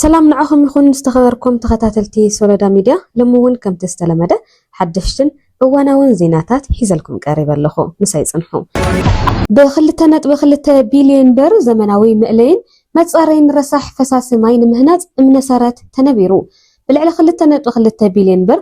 ሰላም ንዓኹም ይኹን ዝተኸበርኩም ተኸታተልቲ ሶሎዳ ሚድያ ሎሚ እውን ከምቲ ዝተለመደ ሓደሽትን እዋናውን ዜናታት ሒዘልኩም ቀሪበ ኣለኹ ምሳይ ፅንሑ ብክልተ ነጥቢ ክልተ ቢልዮን ብር ዘመናዊ መእለይን መፃረይን ረሳሕ ፈሳሲ ማይ ንምህናፅ እምነ ሰረት ተነቢሩ ብልዕሊ ክልተ ነጥቢ ክልተ ቢልዮን ብር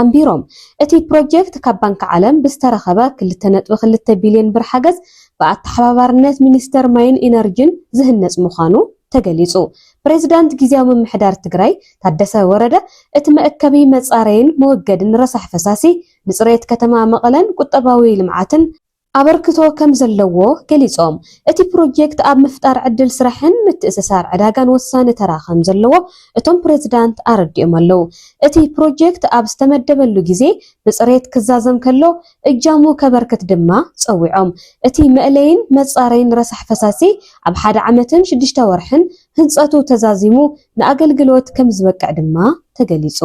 ኣንቢሮም። እቲ ፕሮጀክት ካብ ባንኪ ዓለም ብዝተረኸበ ክልተ ነጥቢ ክልተ ቢሊየን ብር ሓገዝ ብኣተሓባባርነት ሚኒስቴር ማይን ኢነርጂን ዝህነፅ ምዃኑ ተገሊፁ። ፕሬዚዳንት ጊዚያዊ ምምሕዳር ትግራይ ታደሰ ወረደ እቲ መእከቢ መፃረይን መወገድን ረሳሕ ፈሳሲ ንፅሬት ከተማ መቐለን ቁጠባዊ ልምዓትን ኣበርክቶ ከምዘለዎ ገሊፆም። እቲ ፕሮጀክት ኣብ ምፍጣር ዕድል ስራሕን ምትእስሳር ዕዳጋን ወሳኒ ተራ ከምዘለዎ እቶም ፕሬዚዳንት ኣረዲኦም ኣለው። እቲ ፕሮጀክት ኣብ ዝተመደበሉ ግዜ ብፅሬት ክዛዘም ከሎ እጃሙ ከበርክት ድማ ፀዊዖም። እቲ መእለይን መፃረይን ረሳሕ ፈሳሲ ኣብ ሓደ ዓመትን ሽዱሽተ ወርሕን ህንፀቱ ተዛዚሙ ንኣገልግሎት ከምዝበቅዕ ድማ ተገሊፁ።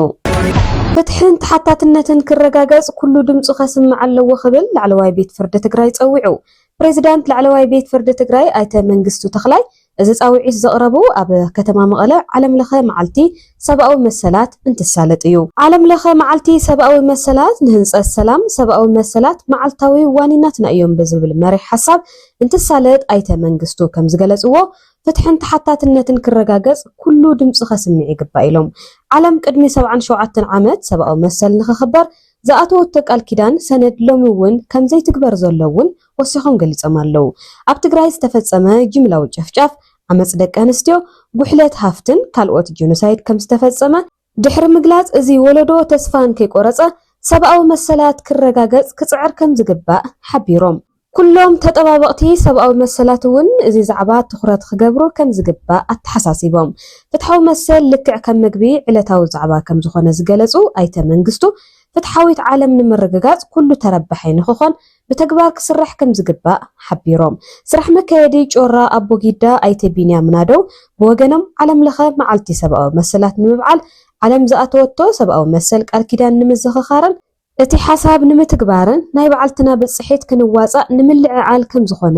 ፍትሕን ተሓታትነትን ክረጋገፅ ኩሉ ድምፁ ከስምዕ ኣለዎ ክብል ላዕለዋይ ቤት ፍርዲ ትግራይ ፀዊዑ። ፕሬዚዳንት ላዕለዋይ ቤት ፍርዲ ትግራይ ኣይተ መንግስቱ ተኽላይ እዚ ፃውዒት ዘቕረቡ ኣብ ከተማ መቐለ ዓለም ለኸ መዓልቲ ሰብኣዊ መሰላት እንትሳለጥ እዩ። ዓለም ለኸ መዓልቲ ሰብኣዊ መሰላት ንህንፀት ሰላም ሰብኣዊ መሰላት መዓልታዊ ዋኒናትና እዮም ብዝብል መሪሕ ሓሳብ እንትሳለጥ ኣይተ መንግስቱ ከምዝገለፅዎ ፍትሕን ተሓታትነትን ክረጋገፅ ኩሉ ድምፁ ከስምዕ ይግባእ ኢሎም። ዓለም ቅድሚ ሰብዓን ሸውዓተን ዓመት ሰብኣዊ መሰል ንክኽበር ዝኣተወቶ ቃል ኪዳን ሰነድ ሎሚ እውን ከምዘይትግበር ዘሎ እውን ወሲኾም ገሊፆም ኣለው። ኣብ ትግራይ ዝተፈፀመ ጅምላዊ ጨፍጫፍ፣ ዓመፅ ደቂ ኣንስትዮ፣ ጉሕለት ሃፍትን ካልኦት ጄኖሳይድ ከምዝተፈፀመ ድሕሪ ምግላፅ እዚ ወለዶ ተስፋ እንከይቆረፀ ሰብኣዊ መሰላት ክረጋገፅ ክፅዕር ከምዝግባእ ሓቢሮም። ኩሎም ተጠባበቕቲ ሰብኣዊ መሰላት እውን እዚ ዛዕባ ትኹረት ክገብሩ ከምዝግባእ ኣተሓሳሲቦም። ፍትሓዊ መሰል ልክዕ ከም ምግቢ ዕለታዊ ዛዕባ ከምዝኾነ ዝገለፁ ኣይተ መንግስቱ፣ ፍትሓዊት ዓለም ንምርግጋፅ ኩሉ ተረባሒ ንክኾን ብተግባር ክስራሕ ከምዝግባእ ሓቢሮም። ስራሕ መካየዲ ጮራ ኣቦጊዳ ኣይተ ቢንያም ናደው ብወገኖም፣ ዓለም ለኸ መዓልቲ ሰብኣዊ መሰላት ንምብዓል ዓለም ዝኣተወቶ ሰብኣዊ መሰል ቃል ኪዳን ንምዝኽኻርን፣ እቲ ሓሳብ ንምትግባርን ናይ በዓልትና ብፅሒት ክንዋፃእ ንምልዕዓል ከምዝኾነ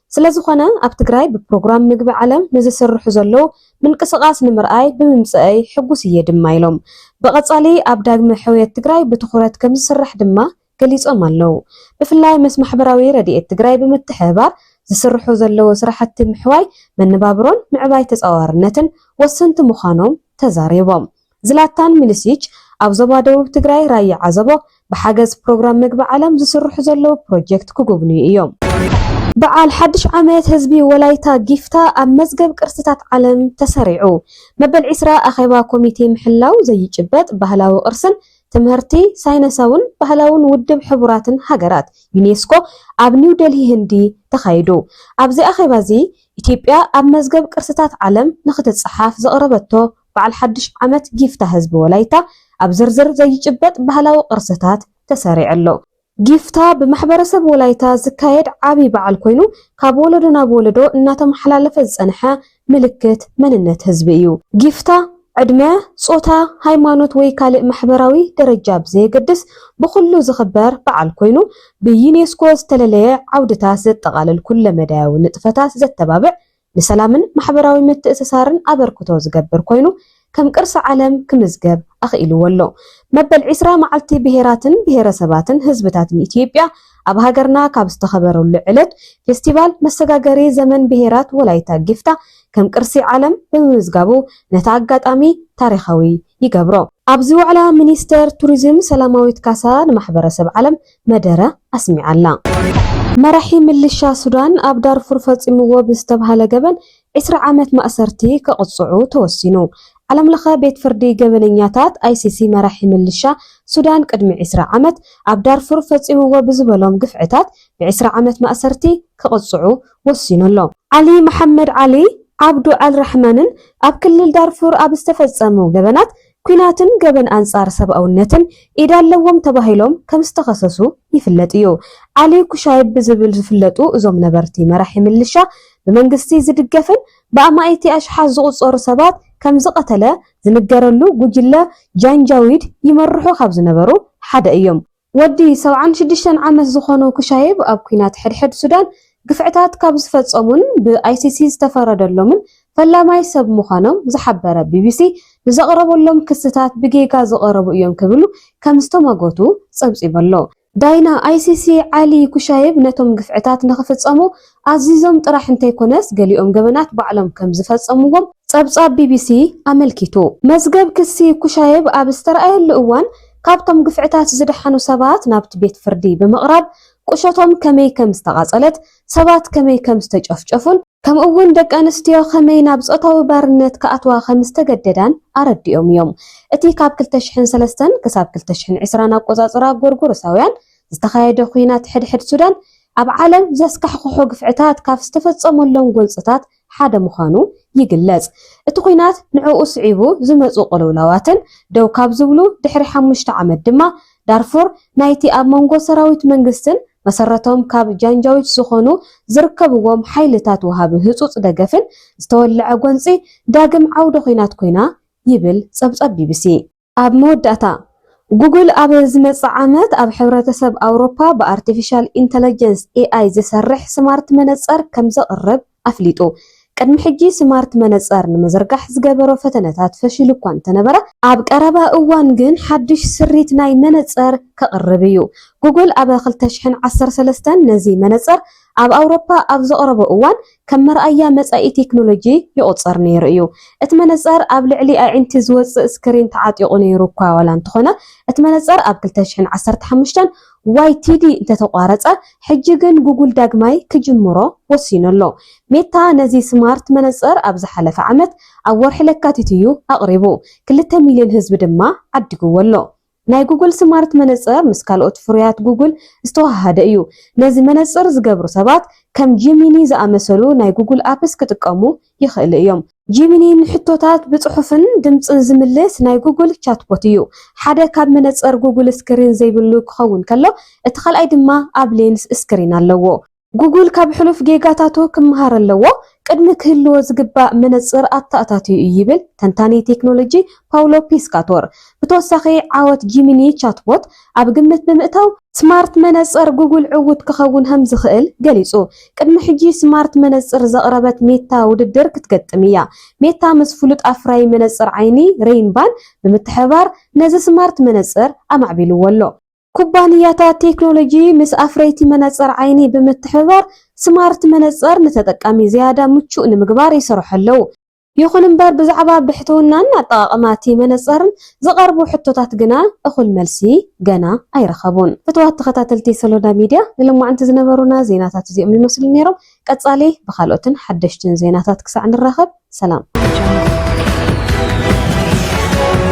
ስለዝኾነ ኣብ ትግራይ ብፕሮግራም ምግቢ ዓለም ንዝስርሑ ዘለዉ ምንቅስቓስ ንምርኣይ ብምምፀኣይ ሕጉስ እየ ድማ ኢሎም። ብቐፃሊ ኣብ ዳግመ ሕውየት ትግራይ ብትኹረት ከምዝስራሕ ድማ ገሊፆም ኣለዉ። ብፍላይ ምስ ማሕበራዊ ረድኤት ትግራይ ብምትሕብባር ዝስርሑ ዘለዉ ስራሕቲ ምሕዋይ መነባብሮን ምዕባይ ተፃዋርነትን ወሰንቲ ምዃኖም ተዛሪቦም። ዝላታን ሚሊሲች ኣብ ዞባ ደቡብ ትግራይ ራያ ዓዘቦ ብሓገዝ ፕሮግራም ምግቢ ዓለም ዝስርሑ ዘለዉ ፕሮጀክት ክጉብንዩ እዮም። በዓል ሓድሽ ዓመት ህዝቢ ወላይታ ጊፍታ ኣብ መዝገብ ቅርስታት ዓለም ተሰሪዑ። መበል ዕስራ ኣኼባ ኮሚቴ ምሕላው ዘይጭበጥ ባህላዊ ቅርስን ትምህርቲ ሳይነሳውን ባህላውን ውድብ ሕቡራትን ሃገራት፣ ዩኔስኮ፣ ኣብ ኒው ደልሂ ህንዲ ተኻይዱ። ኣብዚ ኣኼባዚ ኢትዮጵያ ኣብ መዝገብ ቅርስታት ዓለም ንክትጸሓፍ ዘቕረበቶ በዓል ሓድሽ ዓመት ጊፍታ ህዝቢ ወላይታ ኣብ ዝርዝር ዘይጭበጥ ባህላዊ ቅርስታት ተሰሪዑ ኣሎ። ጊፍታ ብማሕበረሰብ ወላይታ ዝካየድ ዓብይ በዓል ኮይኑ ካብ ወለዶ ናብ ወለዶ እናተመሓላለፈ ዝፀንሐ ምልክት መንነት ህዝቢ እዩ። ጊፍታ ዕድመ፣ ፆታ፣ ሃይማኖት ወይ ካልእ ማሕበራዊ ደረጃ ብዘየገድስ ብኹሉ ዝኽበር በዓል ኮይኑ ብዩኔስኮ ዝተለለየ ዓውድታት ዘጠቓልል ኩለመዳያዊ ንጥፈታት ዘተባብዕ ንሰላምን ማሕበራዊ ምትእስሳርን ኣበርክቶ ዝገብር ኮይኑ ከም ቅርሲ ዓለም ክምዝገብ ኣኽኢልዎ ኣሎ። መበል ዕስራ መዓልቲ ብሄራትን ብሄረሰባትን ህዝብታትን ኢትዮጵያ ኣብ ሃገርና ካብ ዝተኸበረሉ ዕለት ፌስቲቫል መሰጋገሪ ዘመን ብሄራት ወላይታ ጊፍታ ከም ቅርሲ ዓለም ብምምዝጋቡ ነቲ ኣጋጣሚ ታሪኻዊ ይገብሮ። ኣብዚ ዋዕላ ሚኒስትር ቱሪዝም ሰላማዊት ካሳ ንማሕበረሰብ ዓለም መደረ ኣስሚዓ'ላ። መራሒ ምልሻ ሱዳን ኣብ ዳርፉር ፈጺምዎ ብዝተብሃለ ገበን ዕስራ ዓመት ማእሰርቲ ክቕጽዑ ተወሲኑ። ዓለምለኸ ቤት ፍርዲ ገበነኛታት፣ ኣይሲሲ፣ መራሒ ምልሻ ሱዳን ቅድሚ ዕስራ ዓመት ኣብ ዳርፉር ፈጺምዎ ብዝበሎም ግፍዕታት ብዕስራ ዓመት ማእሰርቲ ክቕጽዑ ወሲኑ ኣሎ። ዓሊ መሓመድ ዓሊ ዓብዱ ኣል ራሕማንን ኣብ ክልል ዳርፉር ኣብ ዝተፈጸሙ ገበናት ኲናትን ገበን ኣንጻር ሰብኣውነትን ኢድ ኣለዎም ተባሂሎም ከም ዝተኸሰሱ ይፍለጥ እዩ። ዓሊ ኩሻይብ ብዝብል ዝፍለጡ እዞም ነበርቲ መራሒ ምልሻ፣ ብመንግስቲ ዝድገፍን ብኣማኢቲ ኣሽሓት ዝቑጸሩ ሰባት ከም ዝቐተለ ዝንገረሉ ጉጅለ ጃንጃዊድ ይመርሑ ካብ ዝነበሩ ሓደ እዮም። ወዲ ሰብዓን ሽዱሽተን ዓመት ዝኾኖ ኩሻይብ ኣብ ኲናት ሕድሕድ ሱዳን ግፍዕታት ካብ ዝፈጸሙን ብኣይሲሲ ዝተፈረደሎምን ፈላማይ ሰብ ምዃኖም ዝሓበረ ቢቢሲ፣ ንዘቕረበሎም ክስታት ብጌጋ ዝቐረቡ እዮም ክብሉ ከም ዝተሟገቱ ጸብጺቡ ኣሎ። ዳይና ኣይሲሲ ዓሊ ኩሻይብ ነቶም ግፍዕታት ንኽፍጸሙ ኣዚዞም ጥራሕ እንተይኮነስ ገሊኦም ገበናት ባዕሎም ከምዝፈጸምዎም ጸብጻብ ቢቢሲ ኣመልኪቱ። መዝገብ ክሲ ኩሻየቭ ኣብ ዝተርኣየሉ እዋን ካብቶም ግፍዕታት ዝደሓኑ ሰባት ናብቲ ቤት ፍርዲ ብምቕራብ ቁሸቶም ከመይ ከምዝተቓጸለት፣ ሰባት ከመይ ከምዝተጨፍጨፉን ከምኡ'ውን ደቂ ኣንስትዮ ከመይ ናብ ጾታዊ ባርነት ክኣትዋ ከምዝተገደዳን ኣረዲኦም እዮም። እቲ ካብ ክልተ ሽሕን ሰለስተን ክሳብ ክልተ ሽሕን ዕስራን ኣቆጻጽራ ጎርጎሮሳውያን ዝተኻየደ ኵናት ሕድሕድ ሱዳን ኣብ ዓለም ዘስካሕኽሑ ግፍዕታት ካብ ዝተፈጸመሎም ጎንጽታት ሓደ ምዃኑ ይግለጽ። እቲ ኲናት ንዕኡ ስዒቡ ዝመጹ ቅልውላዋትን ደው ካብ ዝብሉ ድሕሪ ሓሙሽተ ዓመት ድማ ዳርፉር ናይቲ ኣብ መንጎ ሰራዊት መንግስትን መሰረቶም ካብ ጃንጃዊድ ዝኾኑ ዝርከብዎም ሓይልታት ወሃቢ ህጹጽ ደገፍን ዝተወለዐ ጎንጺ ዳግም ዓውደ ኲናት ኮይና ይብል ጸብጻብ ቢቢሲ። ኣብ መወዳእታ፣ ጉግል ኣብ ዝመጽእ ዓመት ኣብ ሕብረተሰብ ኣውሮፓ ብኣርቲፊሻል ኢንተለጀንስ፣ ኤኣይ፣ ዝሰርሕ ስማርት መነጸር ከም ዘቕርብ ኣፍሊጡ። ቅድሚ ሕጂ ስማርት መነጸር ንምዝርጋሕ ዝገበሮ ፈተነታት ፈሺሉ እኳ እንተነበረ፣ ኣብ ቀረባ እዋን ግን ሓድሽ ስሪት ናይ መነጸር ከቕርብ እዩ። ጉግል ኣብ ክልተ ሽሕን ዓሰርተ ሰለስተን ነዚ መነጸር ኣብ ኣውሮፓ ኣብ ዘቕረቦ እዋን፣ ከም መርኣያ መጻኢ ቴክኖሎጂ ይቑጸር ነይሩ እዩ። እቲ መነጸር ኣብ ልዕሊ ኣዒንቲ ዝወጽእ ስክሪን ተዓጢቑ ነይሩ እኳ ዋላ እንተኾነ፣ እቲ መነጸር ኣብ ክልተ ሽሕን ዓሰርተ ሓሙሽተን YTD እንተተቋረጸ፣ ሕጂ ግን ጉጉል ዳግማይ ክጅምሮ ወሲኑ ኣሎ። ሜታ ነዚ ስማርት መነጸር ኣብ ዝሓለፈ ዓመት ኣብ ወርሒ ለካቲት እዩ ኣቕሪቡ፣ ክልተ ሚልዮን ህዝቢ ድማ ዓዲግዎ ኣሎ። ናይ ጉግል ስማርት መነጽር ምስ ካልኦት ፍሩያት ጉግል ዝተወሃሃደ እዩ። ነዚ መነጽር ዝገብሩ ሰባት ከም ጂሚኒ ዝኣመሰሉ ናይ ጉግል ኣፕስ ክጥቀሙ ይኽእሉ እዮም። ጂሚኒ ንሕቶታት ብጽሑፍን ድምጽን ዝምልስ ናይ ጉግል ቻትቦት እዩ። ሓደ ካብ መነጽር ጉግል ስክሪን ዘይብሉ ክኸውን ከሎ፣ እቲ ካልኣይ ድማ ኣብ ሌንስ ስክሪን ኣለዎ። ጉጉል ካብ ሕሉፍ ጌጋታቱ ክመሃር ኣለዎ፣ ቅድሚ ክህልዎ ዝግባእ መነጽር ኣተኣታትዩ እዩ ይብል ተንታኒ ቴክኖሎጂ ፓውሎ ፒስካቶር። ብተወሳኺ ዓወት ጂሚኒ ቻትቦት ኣብ ግምት ብምእታው፣ ስማርት መነጽር ጉጉል ዕዉት ክኸውን ከም ዝኽእል ገሊጹ። ቅድሚ ሕጂ ስማርት መነጽር ዘቕረበት ሜታ ውድድር ክትገጥም እያ። ሜታ ምስ ፍሉጥ ኣፍራዪ መነጽር ዓይኒ ሬይንባን ብምትሕብባር ነዚ ስማርት መነጽር ኣማዕቢልዎ ኣሎ። ኩባንያታት ቴክኖሎጂ ምስ ኣፍረይቲ መነፀር ዓይኒ ብምትሕብባር ስማርት መነፀር ንተጠቃሚ ዝያዳ ምቹእ ንምግባር ይሰርሑ ኣለዉ። ይኹን እምበር ብዛዕባ ብሕትውናን ኣጠቓቕማ እቲ መነፀርን ዝቐርቡ ሕቶታት ግና እኹል መልሲ ገና ኣይረኸቡን። ፍትዋት ተኸታተልቲ ሰሎዳ ሚድያ ንሎማዕንቲ ዝነበሩና ዜናታት እዚኦም ይመስሉ ነይሮም። ቀፃሊ ብኻልኦትን ሓደሽትን ዜናታት ክሳዕ ንራኸብ ሰላም።